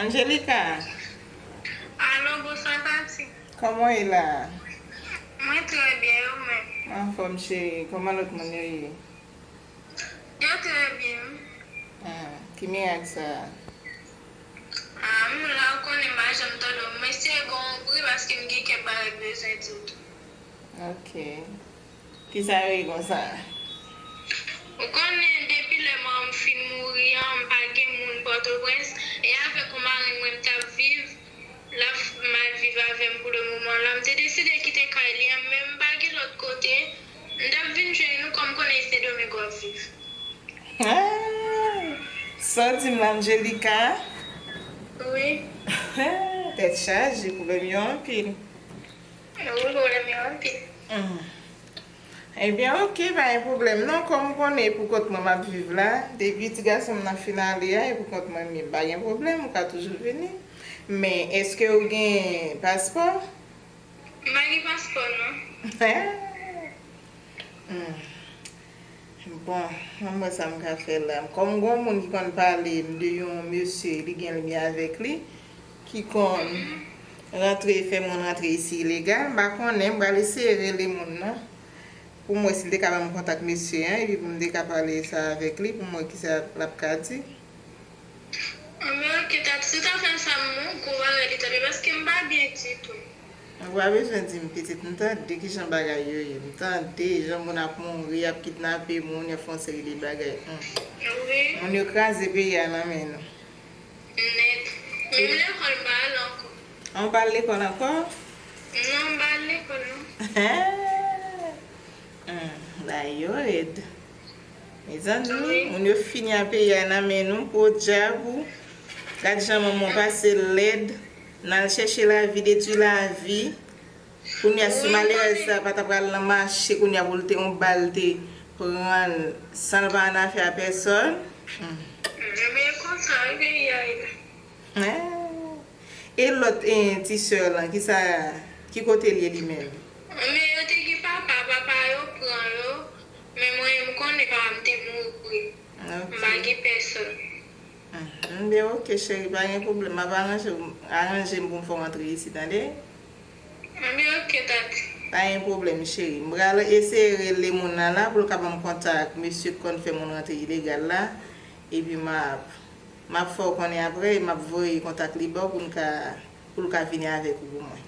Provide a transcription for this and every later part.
Angelica Alo, bonswa tati Kòman ye la? Mwen trè byen, e ou menm? Anfòm cheri, kòman lòt moun yo ye? Yo trè byen wi. Ah ki mirak sa a. Ah m la ou konnen m pa janm tò dòmi mwen eseye ba w yon bri paske m gen kèk bagay m bezwen di w tou. Ok kisa yo ye konsa. Ou konnen depi lè manman m fin mouri an m pa gen moun pòtoprens e avèk yon marenn mwen m t ap viv l ap mal viv avè m pou le moman lan m te deside kite kay li an men m pa gen lòt kote M tap vin jwenn nou kòm konnen sendomingo ap viv. Aah Saw dim la Angelica? Wi. Aah tèt chaje pwoblèm yo anpil. Wi pwoblèm yo anpil. Humm ebyen ok pa gen pwoblèm non kòm ou konnen e pou kont mwen map viv la depi ti gasonm nan fin ale a e pou kont mwen minm pa gen pwoblèm ou ka toujou vini men eske ou gen paspò? M pa gen paspò non. Humm bon ann wè sa m ka fè la kòm gon moun ki konn pale m de yon mesye li gen lmye avèk li ki konn rantre fè moun rantre isi ilegal m pa konnen m pral eseye rele moun nan pou m wè si l te ka ban m kontak mesye an epi pou m te ka pale sa avèk li pou m wè kisa lap ka di. Anmweyy ok Tati si w ta fè sa m on gwo bagay li tap ye paske m pa byen ditou. Ou pa bezwen dim pitit m tande kijan bagay yo ye m tande jan moun ap mouri yap kidnape moun yap fè yon seri de bagay humm Wi. Moun yo kraze peyi a nan men nou. Nèt. Menm lekòl m pa al ankò. Ah ou pa al lekòl ankò? Non m pa al lekòl non. Humm ba yo red. Mezanmi moun yo fini a peyi a nan men nou podyab ou gad jan manman w pase lèd nan al chèche lavi detwi lavi kounya si malerèz sa pa ta pral nan mache kounya pou l te yon bal te pran l san l pa annafè a pèsòn Ebyen e konsa wi peyi a ye. Eeh e lòt ti sè lan kisa ki kote l ye li menm. Ebyen yo te gen papa papa yo pran yo. Men mwen m konnen pa m te mouri m pa gen pèsòn. M byen ok cheri pa gen pwoblèm map aranje w aranje m pou m fè w antre isi tande. M byen ok tati. Pa gen pwoblèm cheri. M pral eseye rele moun nan la pou l ka ban m kontak mesye k konn fè moun rantre ilegal la epi map map fè w konnen aprè e map voye kontak li ba w pou n ka pou l ka vini avèk ou pou mwen.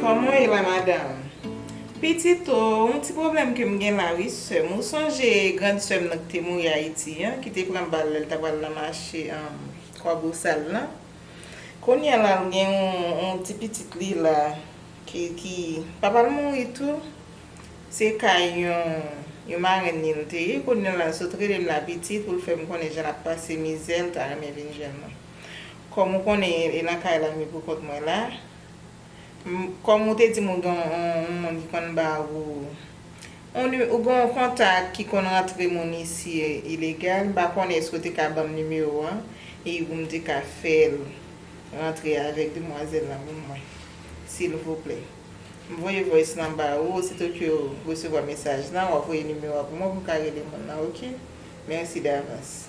Kòman w ye la madam? Pitit o, yon ti pwoblèm ke m gen la wi sè m. Ou sonje grand sè m nan ki te mouri Ayiti an, ki te pran bal lè l ta pral nan mache Kwabosal lan? Kounye a la l gen yon ti pitit li la ki papa l mouri tou. Se kay yon marenn li l te ye. Kounye a la l sot rele m la pitit pou l fè m konnen jan l ap pase mizè, l ta renmen vin jwenn mwen. Kòm ou konnen e nan kay la mi pou kont mwen la. Kòm ou te dim ou gen yon moun ki konn ba ou ou gen yon kontak ki konn rantre moun isi ilegal m pa konnen èske ou te ka banm nimewo an e pou m te ka fè l rantre avèk demwazèl lan pou mwen silvouplè. M voye voice lan ba ou osito ke w resevwa mesaj lan w ap voye nimewo a pou mwen pou m ka rele moun lan ok. Mèsi davans.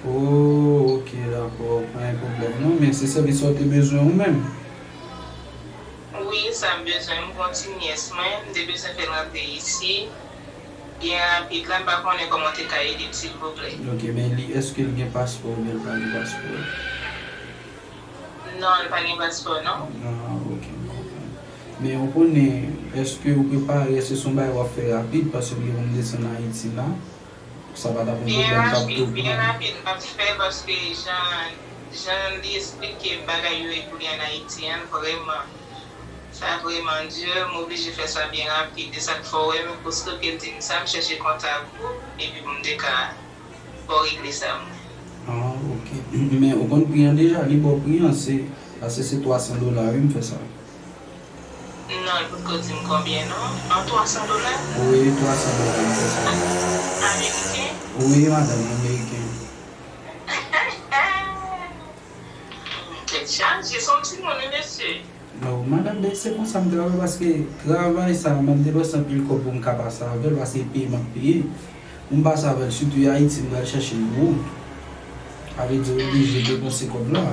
Ooh ok dakò pa gen pwoblèm non men se sèvis sa ou te bezwen ou menm? Wi sa m bezwen m gon ti nyès mwen m te bezwen fèl rantre isi byen rapid la m pa konnen kòman ou te ka ede m silvouplè. Ok men li eske l gen paspò oubyen l pa gen paspò? Non l pa gen paspò non. Ah ok m konprann men ou konnen eske ou prepare eske se yon bagay wap fè rapid paske m gen pou m desann ayiti la. Sa pa tap yon pwoblèm sa ap tou pran. Pnh li pap fè paske jan jan li esplike bagay yo epi li an ayiti an vrèman sa vrèman dur m oblije fè sa byen rapid e sak fè w wè m kouske ke l di m sa m chèche kontak ou epi pou m te ka fè w regle sa m wè. Ah ok men ou konn pri an deja li baw pri an se pase se 300 dola wi m fè sa. Non li potko dim konbyen non. An 300 dola? Wi 300 dola se sa. Ameriken? Wi madanm ameriken. Humm tèt chaje son ti moun wi mesye. No madanm bèk se konsa m travay paske travay sa mwen depanse anpil kòb pou m ka pase avèl paske e peye map peye pou m pase avèl sitou e ayiti m pral chèche l pou ou sa vle di oblije depanse kòb la.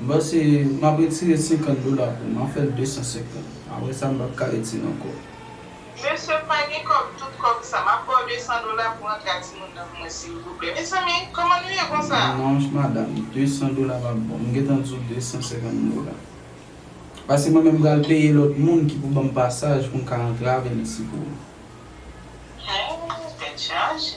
Bon se map retire 50 dola pou ma fèl 250 aprè sa m pap ka retire ankò. Mesye m pa gen kòb tout kòb sa map baw 200 dola pou antre a timoun nan pou mwen silvouplè mezanmi kòman nou ye konsa. Non madam 200 dola pap bon m gentan di w 250 dola paske mwen menm pral peye lòt moun ki pou banm pasaj pou m ka antre avèl isi pou ou. Hee tèt chaje.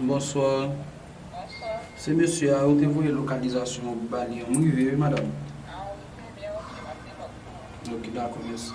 Bonsoir Se mesye a ou te voye lokalizasyon ou ba li an m rive wi madam Ok dakò mèsi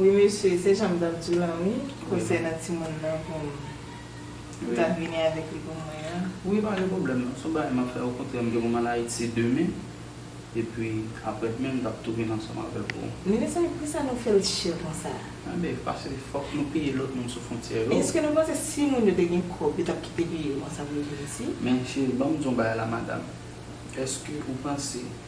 Wi mesye se janm tap diw lan wi konsènan timoun nan poum ta vini avèk li pou mwen an. Wi pa gen pwoblèm non son bagay map fè okontrè mgen pou mal ayiti demen epi aprè demen mtap tou vin ansanm avèw pou. Men mezanmi poukisa nou fèl chè konsa. Anbè pase fòk nou peye lòt moun sou fontyè yo. Men eske nou panse si moun yo te gen kòb yo tap kite peyi yo konsa pou yo vin isit. Men cheri banm diw bagay la madam eske ou panse.